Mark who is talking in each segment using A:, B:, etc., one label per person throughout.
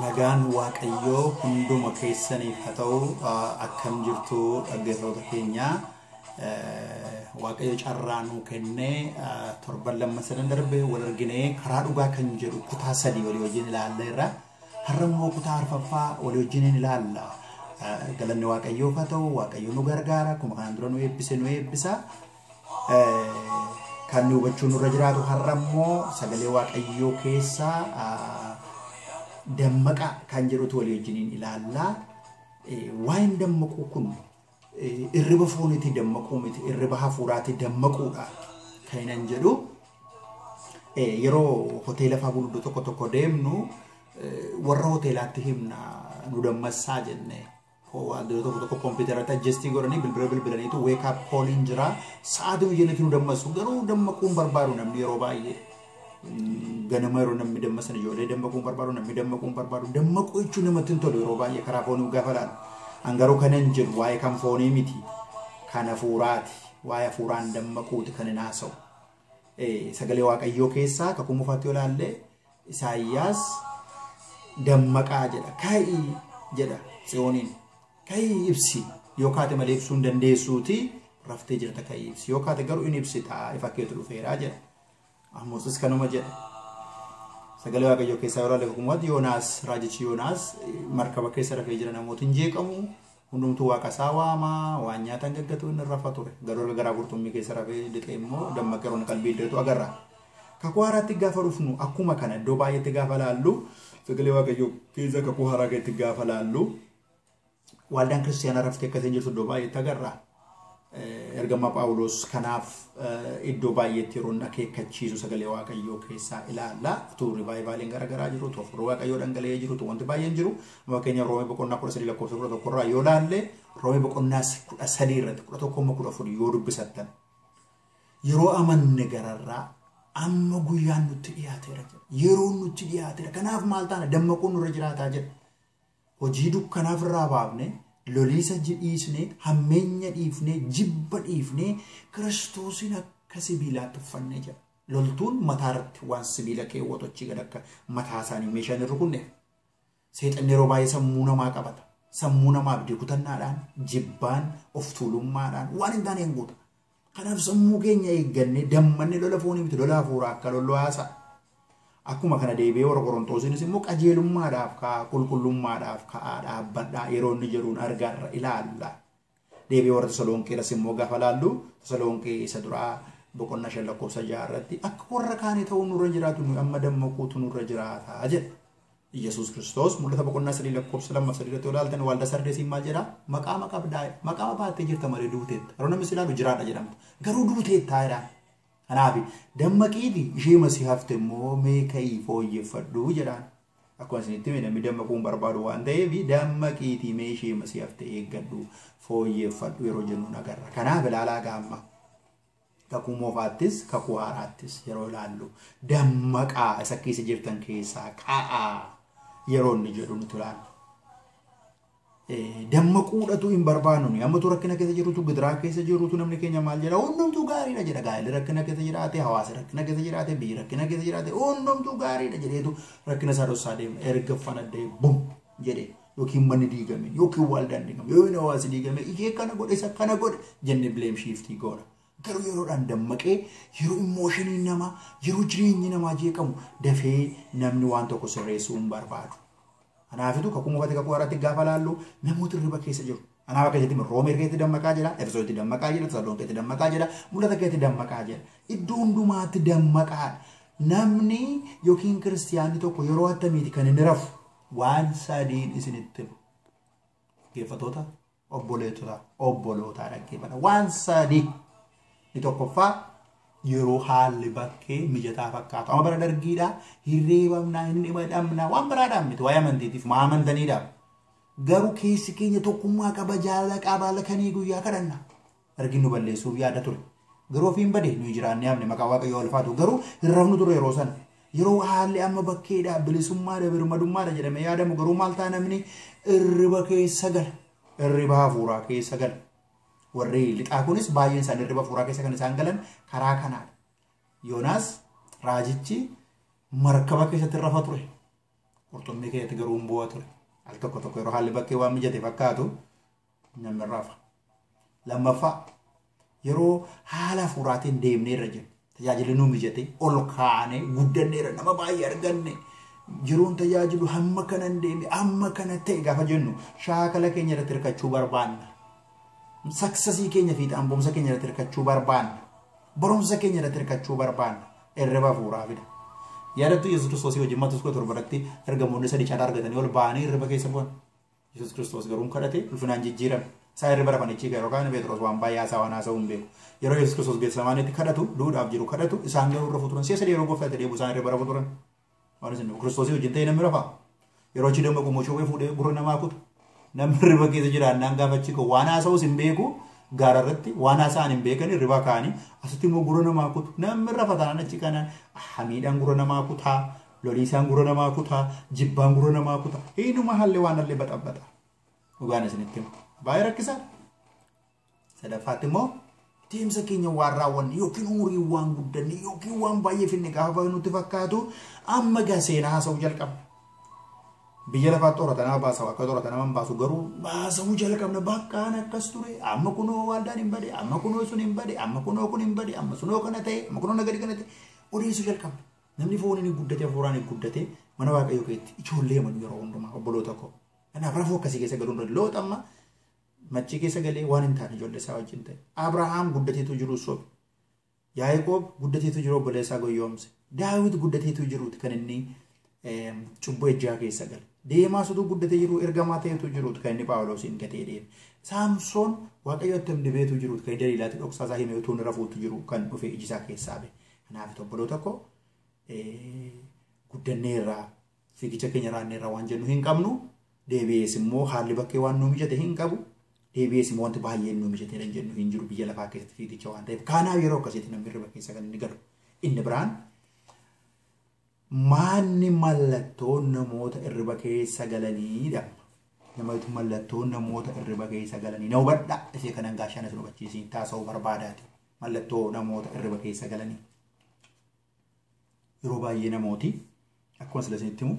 A: Nagaan Waaqayyoo hunduma keessaniif haa ta'u akkam jirtu dhaggeeffattoota keenya Waaqayyo carraa nuu kennee torban lammaffaa darbe wal arginee karaa dhugaa kan jedhu kutaa sadii walii wajjin ilaalleerra. Har'a immoo kutaa arfaffaa walii wajjiniin ilaalla. Galanni Waaqayyoof haa ta'u, Waaqayyo nu gargaara, akkuma kanaan dura nu eebbise nu eebbisa. Kan nu hubachuu nurra jiraatu har'a immoo sagalee Waaqayyoo keessaa dammaqaa kan jedhutu walii wajjiniin ilaalla. Waa'een dammaquu kun Irriba fooniitii dammaquu miti irriba hafuuraatii dammaquudha kan inni jedhu. Yeroo hoteela fa'aa gurguddoo tokko tokko deemnu warra hoteelaatti himna nu dammassaa jennee. Waantota tokko tokko kompiitarratti ajjestii godhanii bilbila bilbilaniitu weekaap kooliin jira. Sa'aatii nu jennetti nu dammassu garuu dammaquun barbaadu namni yeroo baay'ee. ganama yeroo namni dammaqsan ijoollee dammaquu barbaadu namni dammaquu barbaadu dammaquu jechuun namatti hin tolu yeroo baay'ee karaa foonii gaafa laalu an garuu kanan jedhu waa'ee kan foonii miti kan hafuuraati waa'ee hafuuraan dammaquuti kan hin haasa'u sagalee waaqayyoo keessaa kakuu mufaatti olaallee isaayyaas dammaqaa jedha ka'ii jedha tsiyooniin ka'ii ibsi yoo kaate malee ibsuu hin dandeessuuti raftee jirta ka'ii ibsi yoo kaate garuu hin ibsitaa ifa keetu dhufeeraa jedha. Amosis kanuma jedha. Sagalee Waaqayyoo keessaa yoo ilaalle hukumatti Yoonaas raajichi Yoonaas markaba keessa rafee jira namootiin jeeqamu hundumtuu waaqa isaa waama waan nyaatan gaggatu inni rafa ture garuu erga garaa qurxummii keessa rafee lixee immoo dammaqee roon qalbii iddeetu agarra. Kakuu haaraatti gaafa dhufnu akkuma kana iddoo baay'eetti gaafa laallu sagalee Waaqayyoo keessa kakuu haaraa keessatti gaafa laallu Waldaan kiristaanaa raftee akka isheen jirtu iddoo baay'eetti agarra. Ergamaa Phaawulos kanaaf iddoo baay'eetti yeroo inni akeekkachiisu sagalee Waaqayyoo keessaa ilaalla. Utuu rivaayivaaliin garaagaraa jiru, utuu hafuurri Waaqayyoo dhangala'ee jiru, utuu wanti baay'een jiru. Fakkeenya Roomee boqonnaa kudha sadii lakkoofsa kudha tokko irraa yoo ilaalle Roomee boqonnaa kudha sadii irratti kudha tokko amma kudha afur yoo dubbisattan yeroo amanne gararraa amma guyyaan nutti dhiyaateera jedha. Yeroon nutti dhiyaateera. Kanaaf maal taana dammaquun nurra jiraataa jedha. Hojii dukkanaa ofirraa baafnee, loliisa ji- dhiisnee, hammeenya dhiifnee, jibba dhiifnee, Kiristoosiin akka sibiilaatti uffannee jira. Loltuun mataa irratti waan sibiila keewwatu achii gad akka mataa isaanii meeshaan hin rukunneef. Seexanni yeroo baay'ee sammuu namaa qabata. Sammuu namaa abdii kutannaadhaan, jibbaan, of tuulummaadhaan waan hin taaneen guuta. Kanaaf sammuu keenya eeggannee dammanne lola foonii miti lola hafuuraa akka lollu haasa'a. Akkuma kana deebi'ee warra Qorontoosiinis immoo qajeelummaadhaaf ka'a, qulqullummaadhaaf ka'a, dhaabbadhaa yeroo inni jedhuun argaarra ilaalla. Deebi'ee warra Tasalonqeeras immoo gaafa laallu Tasalonqee isa duraa boqonnaa shan lakkoofsa ja'a irratti akka warra kaanii ta'uu nurra jiraatu nuyi amma dammaquutu nurra jiraata jedha. Iyyasuus Kiristoos mul'ata boqonnaa sadii lakkoofsa lama sadii irratti olaaltan waalda sardeesiin maal jedhaa? Maqaama qabdaa maqaama baattee jirta malee duuteetta. Yeroo namni si ilaalu jiraadha jedhamta. Garuu duuteettaa jedhaan. Kanaaf dammaqiiti ishee masii hafte immoo mee ka'ii fooyyeffadhu jedhaan. Akkuma isinitti hime namni dammaquu hin barbaadu waan ta'eef dammaqiitii mee ishee masii hafte eeggadhu fooyyeffadhu yeroo jennu nagarra. Kanaaf ilaalaa gaamma. Kakuu moofaattis kakuu haaraattis yeroo ilaallu dammaqaa isa keessa jirtan keessaa ka'aa yeroo inni jedhu nuti ilaallu. Dammaquudhatu hin barbaannu. Ammatu rakkina keessa jirutu gidiraa keessa jirutu namni keenya maal jedha hundumtuu gaariidha jedha gaa'elli rakkina keessa jiraate hawaasa rakkina keessa jiraate biyyi rakkina keessa jiraate hundumtuu gaariidha jedheetu rakkina isaa dhossaa deema erga fanaddee bum jedhee. yookiin manni diigame yookiin waldaan diigame yookiin hawaasi diigame ishee kana godhe isa kana godhe jennee bileem shiiftii goona. Garuu yeroodhaan dammaqee yeroo immooshinii namaa yeroo jireenyi namaa jeeqamu dafee namni waan tokko sirreessuu hin barbaadu. Kanaafitu kakuu mufate kakuu haaraatti gaafa laallu namoota hirriba keessa jiru. Kanaaf akka jetti roomee keetti dammaqaa jira, efesoo itti dammaqaa jira, tasalloon keetti dammaqaa jira, mul'ata keetti dammaqaa jira. Iddoo hundumaatti dammaqaa. Namni yookiin kiristiyaanni tokko yeroo attamiiti kan inni rafu Waan sadiin isinitti hima. Dhaggeeffatoota obboleettota obbolootaa dhaggeeffata. Waan sadii ni tokkoffaa yeroo haalli bakkee mijataa fakkaatu. Amma bara dargiidhaa hirreebamnaa hin dhimadhamnaa waan biraadhaan miti waa'ee amantiitiif maa amantaniidhaaf. Garuu keessi keenya tokkummaa qaba jaalala qaba halkanii guyyaa kadhanna. Dargiin nu balleessuuf yaada ture. Garuu ofiin bade nuyi jiraannee hafne maqaa waaqayyoo ulfaatu garuu hin rafnu ture yeroo sana. Yeroo haalli amma bakkeedha bilisummaadha birmadummaadha jedhamee yaadamu garuu maal ta'a namni irriba keessa gala. Irriba hafuuraa keessa gala. Warri lixaa kunis baay'een isaanii irriba hafuuraa keessa kan isaan galan karaa kanaadha. Yoonaas raajichi markaba keessatti rafa ture. Qurxummii keessatti garuu hin bu'a ture. Al tokko tokko yeroo haalli bakkee waan mijate fakkaatu namni rafa. Lammaffaa yeroo haala hafuuraatiin deemnee irra jiru. Tajaajilli nu mijatee ol kaanee guddanneera nama baay'ee arganne. Jiruun tajaajilu hamma kana hin deeme hamma kana ta'e gaafa jennu shaakala keenya irratti hirkachuu barbaanna. Saksasii keenya fiixaan ba'umsa keenya irratti hirkachuu barbaanna. Barumsa keenya irratti hirkachuu barbaanna. Irriba hafuuraa fida. Yaadattu Yesuus Kiristoosii wajjin Maatewos 17 irratti ergamoonni sadii carraa argatanii ol ba'anii irriba keessa bu'an. Yesuus Kiristoos garuu hin kadhate ulfinaan jijjiirame. Isaa irra bara manichii gara yookaan Pheexroos waan baay'ee haasaa waan haasa'uu hin beeku. Yeroo Yesuus Kiristoos Geetsemaaneetti kadhatu duudhaaf jiru kadhatu isaan garuu irra futuran si'a sadii yeroo gooftaa itti deebi'u isaan irra bara futuran. Waan isin Kiristoosii wajjin ta'e namni rafaa. Yeroo achi damma qummoo shawwee fuudhee gurra namaa kutu. Namni hirriba keessa jiraannaan gaafa achi ka'u waan haasa'us hin beeku gaara irratti waan haasa'an hin beekan hirribaa ka'anii asitti immoo gurra namaa kutu. Namni rafa taanaan achi kanaan hamiidhaan gurra namaa kutaa Loliisaan gura namaa kutaa, jibbaan gura namaa kutaa. Hiinuma halli waan halli baxabbaxa. Dhugaan isinitti hima. Baay'ee rakkisaa. Sadaffaatti immoo deemsa keenya waan raawwanne yookiin umurii waan guddanne yookiin waan baay'ee finne gaafa nutti fakkaatu amma gaa seenaa haasa'uu jalqabna. Biyya lafaa xorata nama baasa akka xorata nama hin baasu garuu baasa'uu jalqabna bakkaan akkas ture amma kunoo waldaan hin bade amma kunoo sun hin bade amma kunoo kun hin bade amma sunoo kana ta'e amma kunoo nagadi kana ta'e odeessuu jalqabna. Namni fooniin hin guddate hafuuraan hin guddate mana waaqayyoo keessatti ijoollee amanu yeroo hundumaa obboloota koo. Kanaaf rafuu akkasii keessa galuun irra loota amma maccii keessa galee waan hin taane ijoollee isaa wajjin ta'e. Abrahaam guddateetu jiru sobe. Yaaqoob guddateetu jiru obboleessaa goyyoomse. Daawit guddateetu jiruuti kan inni cubbuu ejjaa keessa gale. Deemaa sutuu guddatee jiru ergamaa ta'etu jiruuti kan inni Paawuloosiin gatee deeme. Saamsoon waaqayyo attam dibeetu jiruuti kan inni Daliilaatti dhoksaa isaa himee utuu inni rafuutu jiru kan dhufe ijisaa keessaa ba'e. Kanaaf obboloota koo guddanneerraa fiigicha keenya raanneerraa waan jennu hin qabnu deebi'ees immoo haalli bakkee waan nu mijate hin qabu deebi'ees immoo wanti baay'een nu mijateera hin jennu hin jiru biyya lafaa keessatti fiigicha waan ta'eef kaanaaf yeroo akkasiitti namni hirriba keessa kan inni galu inni biraan maanni mallattoo namoota hirriba keessa galaniidha. Namatti mallattoo namoota hirriba keessa galanii na hubadhaa ishee kanan gaashaan isin hubachiisiin taasisuu barbaadaati. Mallattoo namoota irriba keessa galanii. Yeroo baay'ee namooti akkuma sila isinitti himu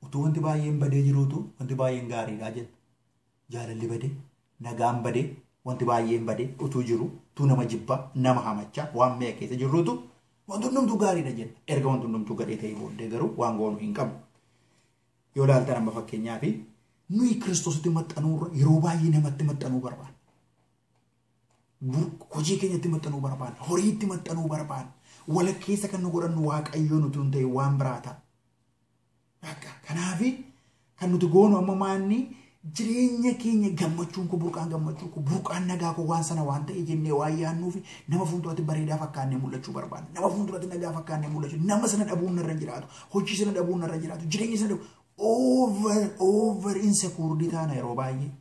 A: utuu wanti baay'een badee jiruutu wanti baay'een gaariidha jenna. Jaalalli badee, nagaan badee, wanti baay'een badee utuu jiru utuu nama jibbaa, nama hamachaa waan mi'a keessa jirruutu wanti hundumtuu gaariidha jenna. Erga wanti hundumtuu gadhee ta'ee booddee garuu waan goonu hin qabu. Yoo ilaaltan amma fakkeenyaaf nuyi kiristoositti maxxanuurra yeroo baay'ee namatti maxxanuu barbaanna. hojii keenyatti maxxanuu barbaanna. Horiitti maxxanuu barbaanna. Walakkeessa kan nu godhannu waaqayyoon utuu hin ta'in waan biraa ta'a. Bakka kanaafi kan nuti goonu amma maanni jireenya keenya gammachuun koo burqaan gammachuu koo burqaan nagaa koo waan sana waan ta'e jennee waan yaannuu fi nama fuulduratti bareedaa fakkaannee mul'achuu barbaanna. Nama fuulduratti nagaa fakkaannee mul'achuu nama sana dhabuun narra jiraatu hojii sana dhabuun narra jiraatu jireenya sana dhabu over over insecurity taana yeroo baay'ee.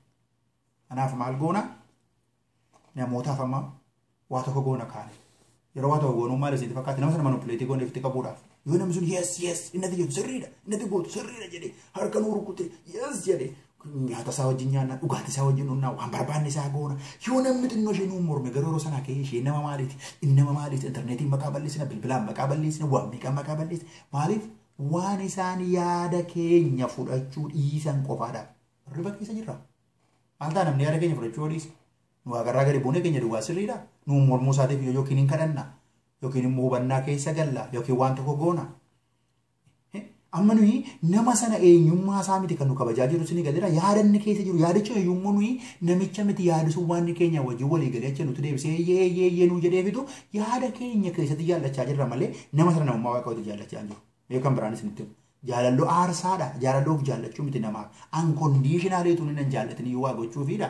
A: Kanaaf maal goona? Namootaaf amma waa tokko goona kaane. Yeroo waa tokko goonuu maal isin fakkaatti nama sana manupileetii goonee ofitti qabuudhaaf. Yoo namni sun yes yes innati jedhu sirriidha innati gootu sirriidha jedhee harka nuu rukute yes jedhee nyaata isaa wajjin nyaanna dhugaatii isaa wajjin dhugnaa waan barbaanne isaa goona yoo namni xinnoo ishee nuu morme garuu yeroo sanaa ka'ee ishee nama maaliiti inni nama maaliiti intarneetiin maqaa balleessina bilbilaan maqaa balleessina waan meeqaan maqaa balleessina maaliif waan isaan yaada keenya fudhachuu dhiisan qofaadha Riba keessa jirra. Antaa namni yaada keenya fudhachuu yoo dhiise. Nu waaqarraa gadi buunee keenya duwwaa sirriidha. Nu mormuu isaatiif yoo yookiin hin kadhanna. Yookiin immoo hubannaa keessa galla. Yookiin waan tokko goona. Amma nuyi nama sana eenyummaa isaa miti kan nu kabajaa jiru sini galeera. Yaada inni keessa jiru yaadicha eenyummoo nuyi namicha miti yaadisuun waan inni keenya wajjin walii galee achi nuti deebisee eeyyee eeyyee eeyyee nuu jedhee fidu yaada keenya keessatti jaallachaa jirra malee nama sana namummaa waaqayyooti jaallachaa hin jiru. Mee kan biraan isinitti himu. Jaalallo aarsaa dha. Jaalallo of jaallachuu miti namaaf. Unconditionally utuu inni nan jaallatini waa gochuufii dha.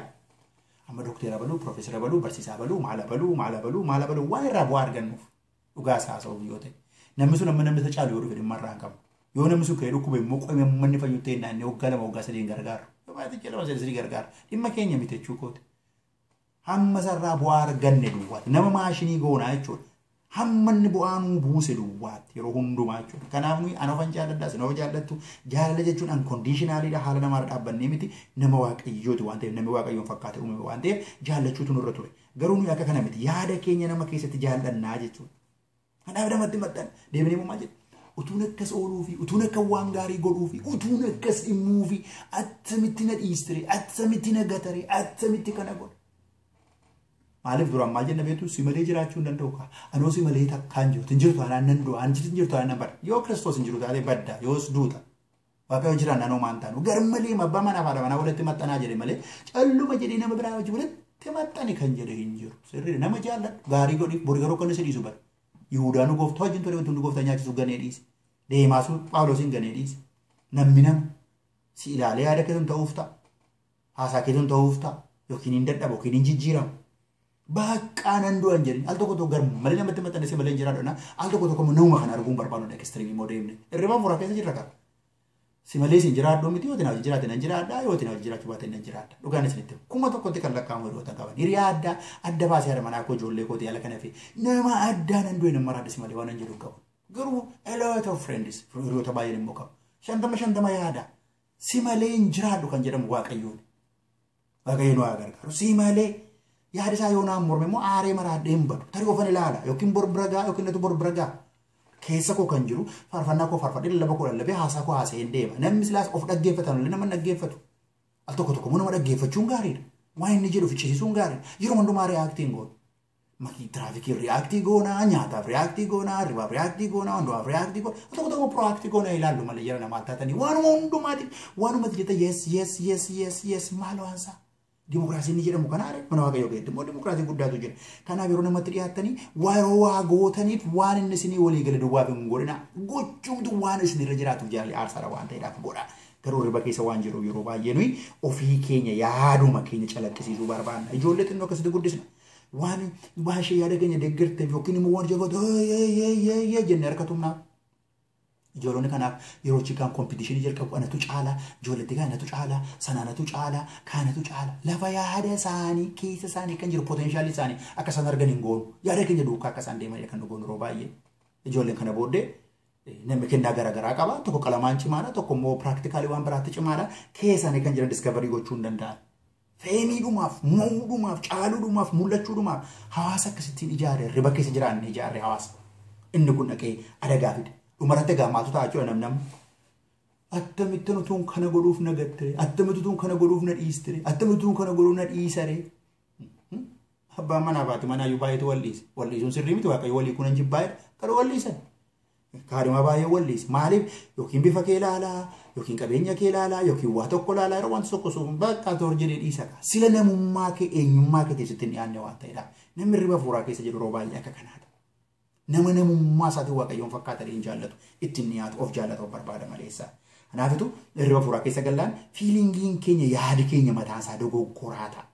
A: Amma dokteera baluu, profeesara baluu, barsiisaa baluu, maala baluu, maala baluu, maala baluu waa irraa bu'aa argannuuf. Dhugaa isaa haasa'uuf yoo ta'e. Namni sun amma namni isa caalu yoo dhufe dhimma irraa hin qabu. Yoo namni sun ka'ee dhukkube immoo qoyma manni fayyutti hin naannee waggaa lama waggaa sadii hin gargaaru. Yoo baay'ate ji'a lama sadii sadii gargaara. Dhimma keenya miti jechuu kooti. Hamma isarraa bu'aa arganne duwwaatti nama maashinii goonaa jechuudha. Hamma inni bu'aa nuu buuse duwwaatti yeroo hundumaa jechuudha. Kanaaf nuyi ana ofan jaalladha isin of jaallattu jaalala jechuun ankondiishinaaliidha haala namaarra dhaabbannee miti nama waaqayyooti waan ta'eef namni waaqayyoon fakkaatee uumame waan ta'eef jaallachuutu nurra ture. Garuu nuyi akka kana miti yaada keenya nama keessatti jaallannaa jechuudha. Kanaaf namatti maxxan deemnee maal jedhu utuun akkas ooluu fi utuun akka waan gaarii godhuu fi utuun akkas dhimmuu fi attamitti na dhiistire attamitti na gatare attamitti kana godhe. Maaliif duraan maal jenna beektu si malee jiraachuu hin danda'u kaa anoo si malee takkaan jirtu hin jirtu anaan nan du'a hin jirtu anaan nan badda yoo kiristoos hin jiru taate badda yoos duuta Waaqayyo jira nan homaa hin taanu. Garmalee abbaa manaa fi haadha manaa walitti maxxanaa jedhe malee calluma jedhee nama biraa wajjin walitti maxxani kan jedhe hin jiru. Sirrii nama jaalladhu gaarii godhi bori garuu kan si dhiisu bara. Yihudaa nu gooftaa wajjin ture wanti nu gooftaa nyaachisu ganee dhiise. Deemaa sun Phaawulosin ganee dhiise. Namni nama si ilaalee yaada keessan ta'uuf ta'a. Haasaa keetu hin ta'uuf ta'a yookiin hin dadhabu yookiin hin jijjiiramu. Baqqaa nan du'an jedhin al tokko tokko gar malee namatti maxxanessee malee hin jiraadhu al tokko tokko nama kana arguun barbaadu dha ekistiriimii immoo deemne irriba mura keessa jirra qaba. Si malee sin jiraadhu miti yootiin hojii jiraate nan jiraadha yootiin hojii jiraachuu baate nan jiraadha dhugaan isinitti kuma tokkotti kan lakkaa'amu hiriyoota qaban hiriyaa addaa adda baasee haadha manaa koo ijoollee koo yaala kana fi nama addaa nan du'e nan maraadha si malee waan hin jedhu qabu garuu a lot of friends hiriyoota baay'een immoo qabu shantama shantama yaada Si malee hin jiraadhu kan jedhamu waaqayyoon. Waaqayyo nu haa gargaaru. Si malee yaada isaa yoo naan morme immoo aaree maraadhee hin badu. Tarii ofan ilaala yookiin bor bira ga'a yookiin natu bor bira ga'a. Keessa koo kan jiru faarfannaa koo faarfadhee lallaba koo lallabee haasaa koo haasa'ee hin deema. Namni silaas of dhaggeeffatan illee nama hin dhaggeeffatu. Al tokko tokko immoo nama dhaggeeffachuun gaariidha. Waan inni jedhu ficcisiisuun gaariidha. Yeroo hundumaa reaaktiin goonu. Mati tiraafikii riyaaktii goonaa, nyaataaf riyaaktii goonaa, hirribaaf riyaaktii goonaa, hundumaaf riyaaktii goonaa, tokko tokko proaktii goonaa ilaallu malee jala namaa taatanii waanuma hundumaati waanuma itti jetta yes yes yes yes yes maal waansaa. Dimokiraasiin ni jedhamu kanaa dha. Mana waaqayyoo keessatti immoo dimokiraasii guddaatu jira. Kanaaf yeroo namatti dhiyaattanii yeroo waa gootaniif waan inni isinii walii gale duwwaaf hin godhina. Gochuumtu waan isinirra jiraatuuf jaalli aarsaadha waan ta'eedhaaf godha. Garuu riba keessa waan jiruuf yeroo baay'ee nuyi ofii keenya yaaduma keenya calaqqisiisuu barbaanna. Ijoollee xinnoo akkasitti guddisna. Waan waan ishee yaada keenya deeggarteef yookiin immoo waan ishee goote yee jenne harka tumnaa. Ijoolonni kanaaf yeroo chikaan kompiitishinii jalqabu anatu caala, ijoolletti kaan anatu caala, sana anatu caala, kaan anatu caala. Lafa yaada isaanii keessa isaanii kan jiru poteenshaalii isaanii akka isaan argan hin goonu. Yaada keenya duukaa akka isaan deeman kan nu goonu yeroo baay'ee. Ijoolleen kana booddee Namni kennaa garaagaraa qaba. Tokko qalamaan cimaadha. Tokko immoo piraaktikaalii waan biraatti cimaadha. Keessaanii kan jiran diskavarii gochuu hin danda'an. Feemiidhumaaf, mo'uudhumaaf, caaluudhumaaf, mul'achuudhumaaf hawaasa akkasittiin ijaare riba keessa jiraanne ijaarre hawaasa. Inni kun dhaqee adagaa fide. Dhumarratti egaa maaltu ta'a jechuudha namni amma. Attamittan utuun kana godhuuf na gattire. Attamittan utuun kana godhuuf na dhiistire. Attamittan utuun kana godhuuf na dhiisare. Abbaan manaa fi haati manaa iyyuu baay'eetu wal dhiise. Wal dhiisuun sirrii miti waaqayyo walii kunan jibbaa'edha. Garuu wal dhiisan. Kaadhimaa baay'ee wal dhiise. Maaliif yookiin bifa kee ilaalaa yookiin qabeenya kee ilaalaa yookiin waa tokko ilaalaa yeroo wanti tokko sun bakka toor jedhee dhiisa kaa. Sila namummaa kee eenyummaa kee teessitti hin dhiyaanne waan ta'edha. Namni hirriba fuuraa keessa jiru yeroo baay'ee akka kanaadha. Nama namummaa isaatiin Waaqayyoon fakkaatanii hin jaallatu. Itti hin dhiyaatu. Of jaallata of barbaada maleessa. Kanaafitu irriba fuuraa keessa gallaan fiilingiin keenya yaadi keenya mataan isaa dogoggoraa ta'a.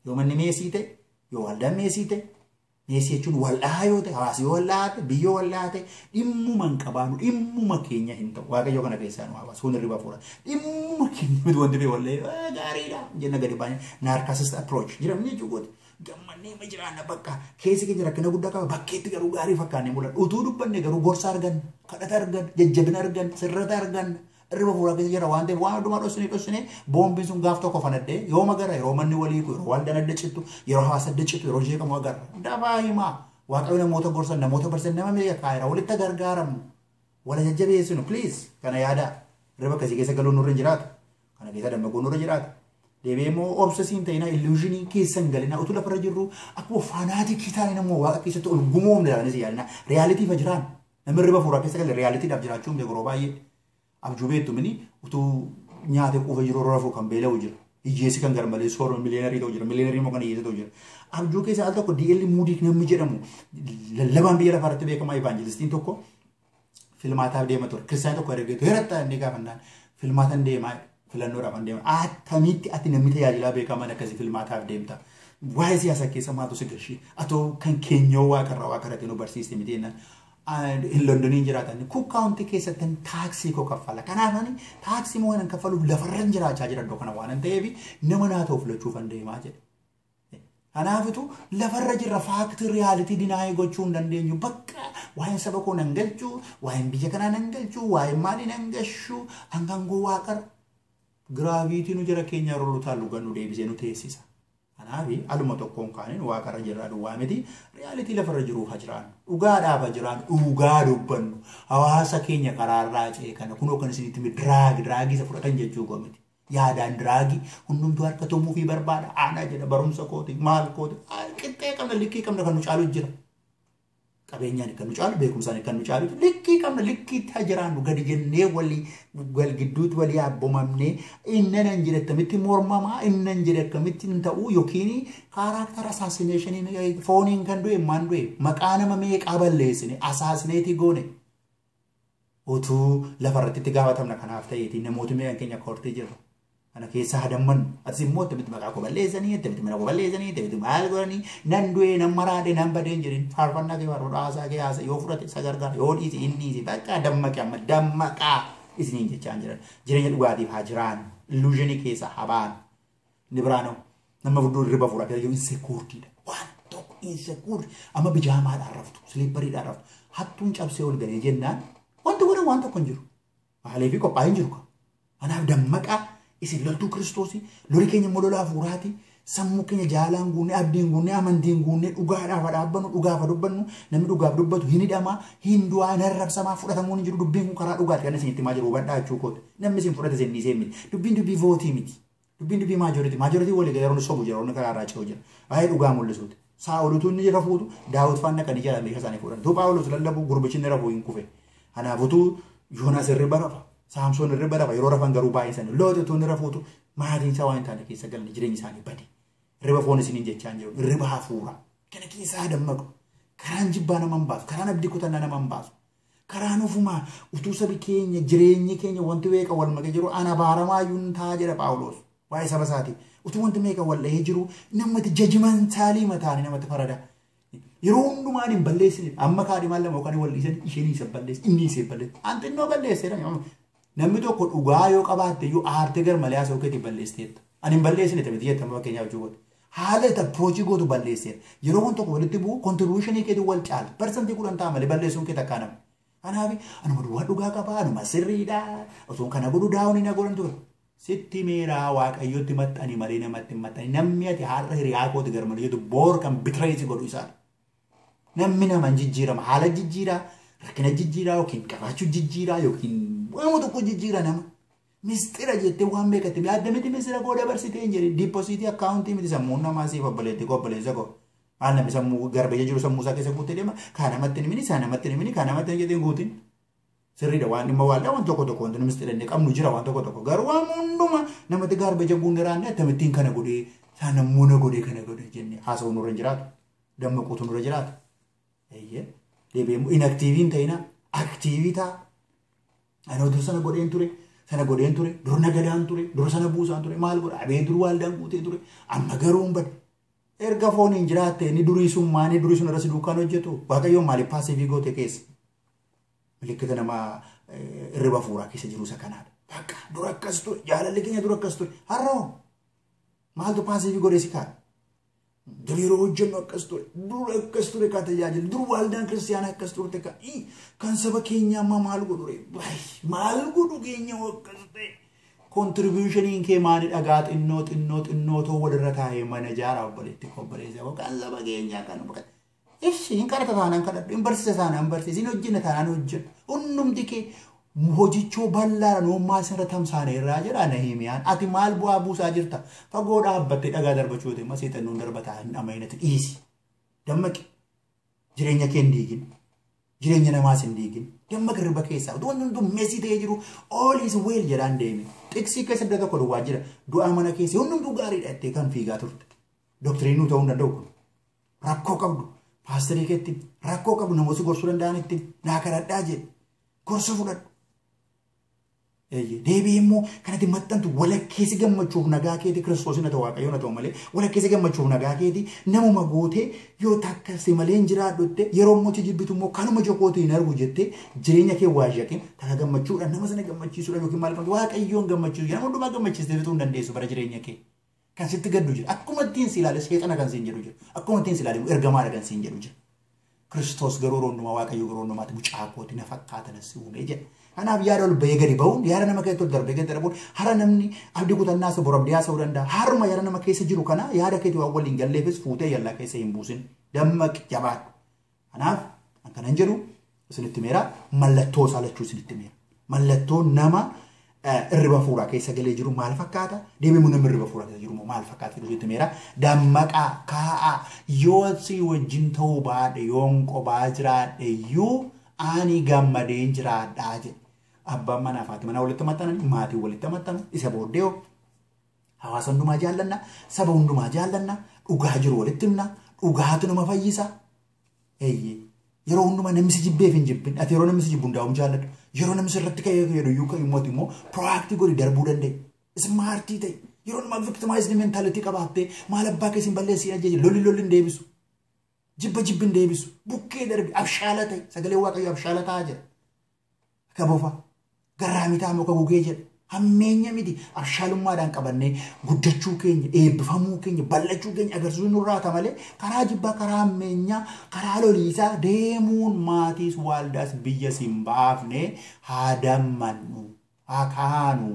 A: Yoo manni meesii ta'e, yoo waldaan meesii ta'e, meesii jechuun wal'aa yoo ta'e, hawaasi yoo wal'aa ta'e, biyyoo wal'aa ta'e, dhimmuma hin qabaanu, dhimmuma keenya hin ta'u. Waaqayyo kana keessaa nu hawaasa, kun irriba fuura. Dhimmuma keenya miti wanti ta'e wallee gaariidha jenna gadi baay'ee. Narcissist approach jedhamu jechuudha. gammannee ma jiraanna bakka keessi keenya rakkina guddaa qaba bakkeetti garuu gaarii fakkaannee mul'ata utuu dubbanne garuu gorsa arganna kadhata arganna jajjabina arganna sirrata arganna irra fuula keessa jira waan ta'eef waan hundumaa dhossinee dhossinee boombiin sun gaaf tokko fanadhee yoo magara yeroo manni walii yeroo waldaan adda cittu yeroo hawaasa adda cittu yeroo jeeqamu agarra dafaa himaa waaqayyo namoota gorsan namoota barsiisan nama meeqa kaayira walitti gargaaramu wala jajjabeessinu please kana yaadaa riba akkasii keessa galuun nurra hin jiraatu kana keessa dammaquu nurra jiraata deebi'ee immoo obsa siin ta'inaa illuushinii keessa hin galinaa utuu lafarra jirru akkuma faanaatikii taanee namoo waaqa keessatti ol gumoomne jedhanis yaadinaa riyaalitii fa jiraan namni riba fuuraa keessa galee riyaaliitiidhaaf jiraachuu hin beeku yeroo baay'ee abjuu beektu mini utuu nyaatee quufa jiru rafuu kan beela'u jira Hiyyeessi kan garmalee soorame miliyeenarii ta'u jira. Miliyeenarii immoo kan hiyyeessa ta'u jira. Abjuu keessa al tokko DL Muudiik namni jedhamu lallabaan biyya lafaa irratti beekamaa evaanjelistiin tokko filmaataaf deema ture. Kiristaanii tokko ergeetu heeratta inni gaafannaan filmaatan deemaa filannoodhaaf an deema. Attamitti ati namni tajaajilaa beekamaan akkasii filmaataaf deemta. Waa'ee siyaasa keessa maaltu si gashii? Atoo kan keenyoo waaqarraa waaqarratti nu barsiiste miti jennaan. hin Londoniin jiraatan Cook County keessattin taaksii koo kaffala. Kanaaf ani taaksii moo hin kaffaluuf lafarran jiraachaa jira iddoo kana waan ta'eef nama naa ta'u filachuuf an deemaa jedhe. Kanaafitu lafarra jirra faaktii riyaalitii dinaayii gochuu hin dandeenyu bakka waa'een saba koo nan galchu waa'een biyya kanaa nan galchu waa'een maalii nan gashu hangaan gowwaa qara. Giraaviitii nu jara keenyaa rullutaan lugan nu deebisee nu teessisa. Kanaaf aluma tokkoon kaaneen waaqa irra jirraa duwwaa miti riyaalitii lafa irra jiruu ha jiraannu dhugaadhaaf ha jiraannu dhugaa dubbannu hawaasa keenya karaa irraa ce'e kana kunoo kan isinitti hime diraagi diraagii isa fudhatan jechuu koo miti yaadaan diraagii hundumtuu harka tumuu fi barbaada aanaa jedha barumsa kooti maal kooti qixxee qabna likkii qabna kan nu caalu jira. Qabeenyaan kan nu caalu, beekumsaan kan nu caalu, likkii qabna, likkiitti haa jiraannu, gadi jennee walii wal gidduutti walii abbomamnee innan hin jedhe akkamitti mormamaa, innan hin jedhe akkamitti hin ta'uu yookiin kaaraaktara asaasineshiniin fooniin kan du'e maan du'e maqaa nama meeqaa balleessine asaasineetii goone. Utuu lafa irratti itti gaafatamna kanaaf ta'eeti namooti meeqan keenya akka hortee jirra. Kana keessaa hadammannu. Atis immoo attamitti maqaa koo balleessanii, attamitti mana koo balleessanii, attamitti maal godhanii, nan du'ee, nan maraadhe, nan badee hin jedhin. Faarfannaa kee faarfadhu, haasaa kee haasa, yoo fudhate isa gargaara, yoo dhiise hin dhiise. Bakka dammaqi amma dammaqaa isiniin jechaan jiran. Jireenya dhugaatiif haa jiraannu. Illuuzhinii keessaa haa baanu. Inni biraa nama nama furduu hirriba fura dayyoo insekuurtiidha. Waan tokko insekuurti amma bijaamaadhaan raftu siliippariidhaan raftu hattuun cabsee ol galee jennaan wanti godhan waan tokko hin jiru. Haalee fi qophaa'ee hin jiru. Kanaaf dammaqaa isin loltuu kiristoosii loli keenya immoo lola hafuuraati. Sammuu keenya jaalaan guunnee abdiin guunnee amantiin guunnee dhugaadhaaf haa dhaabbannu dhugaaf haa dubbannu namni dhugaaf dubbatu hin hidhamaa hin du'aa hin arrabsamaa fudhatamuun hin jiru dubbiin kun karaa dhugaati kan isin itti himaa jiru hubadhaa jechuu kooti namni isin fudhate isin dhiisee miti dubbiin dubbii vootii miti. Dubbiin dubbii maajoritii. Maajoritiin walii galee warri sobu jira, warri karaa irraa ce'u jira. Waa'ee dhugaa mul'isuuti. Saa'olutu inni rafuutu daawwit faana dhaqanii jala meeshaa isaanii fuudhan. Utuu Phaawulos lallabu gurbichi inni rafuu hin kufe. Kanaaf utuu Yoonaas hirriba rafa, Saamsoon hirriba rafa, yeroo rafan garuu baay'ee sana. Looxi utuu inni rafuutu maatiin isaa waan hin taane keessa galan jireenyi isaanii bade. Hirriba foon isiniin jechaa hin jiru. Hirriba hafuuraa. Kana keessaa dammaqu. Karaan jibbaa nama hin baasu. Karaan abdii kutannaa nama hin baasu. Karaan ofumaa utuu sabi keenya jireenyi keenya wanti weeqa wal makee jiru an abaaramaa iyyuu hin ta'a jedha Phaawulos waa'ee saba isaati. Utuu wanti meeqa wal dhahee jiru namatti jajimantaalii mataanii namatti farada. Yeroo hundumaa ani hin balleessine amma kaadhimaan lama yookaan wal dhiisan isheen isa balleessi inni isa balleessi. An xinnoo balleesseera Namni tokko dhugaa yoo qabaatte iyyuu aartee garmalee haasa'uu keetiin balleessiteetta. Ani hin balleessine ta'e miti jettama fakkeenyaa hojii godhe. Haala itti approachii gootu balleesseera. Yeroo wanti tokko walitti bu'u contribution keetiin wal caala. Parsantii kudhan ta'a malee balleessuun kee takkaa nama. Kanaaf anuma duwwaa dhugaa qabaa anuma sirriidha osoo kana godhu daawun hin godhan ture. Sitti meeraa waaqayyotti maxxani malee namatti hin maxxani. Namni ati har'a hiriyaa kooti garmalee jettu boor kan bitireessi godhu isaadha. Nammi naman jijjiirama. Haala jijjiiraa, rakkina jijjiiraa yookiin qabaachuu jijjiiraa yookiin waama tokko jijjiira nama. Misxira jettee waan beekatte yaadda miti misira koo dabarsitee hin jedhin. Diipposiitii akkaawuntii miti sammuun namaa siif obboleetti koo obboleessa koo. Maal namni sammuu garbaja jiru sammuu isaa keessa guuttee deema. Kaa namatti hin himini, isaa namatti hin himini, kaa namatti hin jedhin guutin. Sirriidha waan dhimma waaldaa waan tokko tokko wanti numis xidhanne qabnu jira waan tokko tokko garuu waan hunduma namatti garbaja guunne raanne akkamittiin kana godhee isaa nammuu na godhee kana godhee jenne haasa'uu nurra hin jiraatu. dammaquutu nurra jiraata. Eeyyee deebi'ee immoo inaktiivii hin ta'inaa aktiivii ta'a. Anoo dur sana godheen ture sana godheen ture dur nagadaan ture dur sana buusaan ture maal godha abee dur waaldaan guutee ture amma garuu hin bade. Erga foon hin jiraatte inni durii sun maanii durii sun irratti duukaan hojjetu waaqayyoon maaliif paasiivii goote keessa. Milikkita nama irriba fuuraa keessa jiru isa kanaadha. Bakka dur akkas ture jaalalli keenya dur akkas ture har'oo maaltu paasiivii godhee si kaa'e. Dur yeroo hojjennu akkas ture. Dur akkas ture kaa tajaajila. Dur waldaan kiristaanaa akkas turte kaa. Ii, Kan saba keenyaa ammaa maal godhu ree? Baay, Maal godhu keenya hoo akkas ta'e? Kontribuushiniin kee maali dhagaa xinnoo xinnoo xinnoo too walirra taa'ee mana ijaara obboleetti koo obboleessa koo kan saba keenyaa kan Ishi hin kadhata taanaan kadhadhu, hin barsiisa taanaan hin barsiisa, hin hojjenna taanaan hojjedhu. Hundumti kee hojichoo bal'aadha noommaa isarra tamsaane irraa jedha Nahimiyaan. Ati maal bu'aa buusaa jirta? Fagoo dhaabbattee dhagaa darbachuu yoo ta'e immoo seexannoon darbataa hin dhamahinati dhiisi. Dammaqi. Jireenya kee hin diigin. Jireenya namaas hin diigin. Dammaqi hirriba keessaa. Utuu wanti hunduu meesii ta'ee jiru all is well jedhaan deemi. Xiqsii keessa iddoo tokko duwwaa jira. Du'aa mana keessa hundumtuu gaariidha jettee kan fiigaa turte. Doktiriinuu ta'uu hin danda'u kun. rakkoo qabdu paasterii keetti rakkoo qabdu namoota gorsuu danda'anitti naa kadhadhaa jedhe gorsa fudhadhu. Deebii immoo kanatti maxxantu walakkeessi gammachuuf nagaa keetii kiristoosii na ta'u waaqayyoon na ta'u malee walakkeessi gammachuuf nagaa keetii namuma gootee yoo takka si malee hin jiraadhu jettee yeroo immoo si jibbitu immoo kanuma jokootu hin argu jettee jireenya kee waa shaqin takka gammachuudha nama sana gammachiisuudha yookiin maal qabdu waaqayyoon gammachiisu jedhama hundumaa gammachiistee bituu hin dandeessu bara jireenya kee. Kan sitti gaddu jira. Akkuma ittiin si ilaale seexana kan siin jedhu jira. Akkuma ittiin si ilaale immoo ergamaadha kan siin jedhu jira. Kiristoos garuu yeroo hundumaa Waaqayyo yeroo hundumaatti mucaa kooti na fakkaata na si uumee jedha. Kanaaf yaada ol bahee gadi ba'uun yaada nama keessatti ol darbee gadi darbuun hara namni abdii kutannaa isa borabdee haasa'uu danda'a. Haruma yaada nama keessa jiru kana yaada keetii waan waliin galleefis fuutee yallaa keessa hin buusin. Dammaqi jabaadhu. Kanaaf kan kanan jedhu isinitti meera mallattoo isaa lachuu isinitti meera. Mallattoo nama irriba fuuraa keessa galee jiru maal fakkaata? Deebimu namni irriba fuuraa keessa jiru maal fakkaata? Jedhu isinitti meera. Dammaqaa kaa'aa yoo si wajjin ta'uu baadhe yoon qobaa jiraadhe iyyuu ani gammadeen jiraadhaa jedhe. Abbaan manaa fi haati manaa walitti maxxananii maatiin walitti maxxanu isa booddee Hawaasa hundumaa jaallanna, saba hundumaa jaallanna, dhugaa jiru walitti himna, dhugaatu nama fayyisa. Eeyyee. Yeroo hundumaa namni si jibbeef hin jibbin. Ati yeroo namni si jibbu hundaa'uun jaalladhu. Yeroo namni sirratti ka'ee jedhu iyyuu kan immoo immoo proactive godhi darbuu danda'e. Ismaartii ta'e. Yeroo nama victimized mentality qabaattee maal abbaa keessan balleessee ajjeeje lolli lolli hin deebisu. Jibba jibbi hin deebisu. Bukkee darbi abshaala ta'e. Sagalee waaqayyo abshaala ta'aa jira. Akka bofa garraa mitaa muka gugee jedha. Hammeenya miti abshaalummaadhaan qabannee guddachuu keenya, eebbifamuu keenya, bal'achuu keenya agarsiisuu nurraa ta malee karaa jibbaa, karaa hammeenyaa, karaa loliisaa deemuun maatiis, waaldaas, biyyas hin baafne haa dammannu, haa kaanu.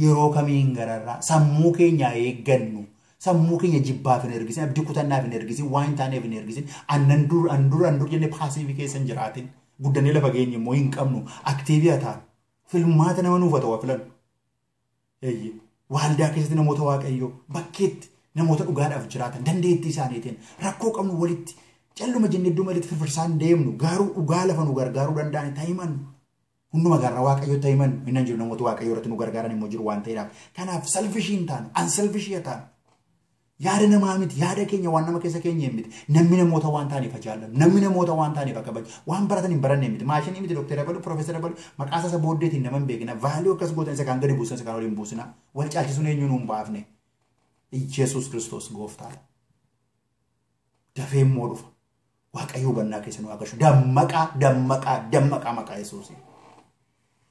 A: yeroo kamiin gararraa sammuu keenya haa eeggannu. Sammuu keenya jibbaaf hin ergisin, abdii kutannaaf hin ergisin, waan hin taaneef hin ergisin. Annan dur, an dur, an dur jennee paasiivii keessa hin jiraatin. Guddannee lafa geenye immoo hin qabnu. Aktiivii haa taanu. Filmaata nama nuuf haa ta'u haa filannu. Eeyyee. Waaldaa keessatti namoota waaqayyoo bakkeetti namoota dhugaadhaaf jiraatan dandeettii isaaniitiin rakkoo qabnu walitti calluma jennee iddoo malitti firfirsaan deemnu garuu dhugaa lafa nu gargaaruu danda'an itti himannu. Hunduma gaarra Waaqayyotti haa himannu. Inni hin jiru namoota Waaqayyoo irratti nu gargaaran immoo jiru waan ta'eedhaaf. Kanaaf salfishii hin taanu, ansalfishii haa taanu. Yaada namaa miti, yaada keenya waan nama keessa keenya hin miti. Namni namoota waan taaneef ajaallannu, namni namoota waan taaneef akka baju, waan baratan hin baranne miti. Maashinii miti dokteera balu, profeesara balu, maqaa isaa isa booddeetiin nama hin beekina. Vaaliyoo akkas gootan isa kaan gadi buusan isa kaan ol hin buusina. Wal caalchisuun eenyuun hin baafne. Iyyasuus Kiristoos gooftaadha. Dafee immoo dhufa. Waaqayyo hubannaa keessa nu haa gashu. Dammaqaa, dammaqaa, dammaqaa maqaa Yesuusiin.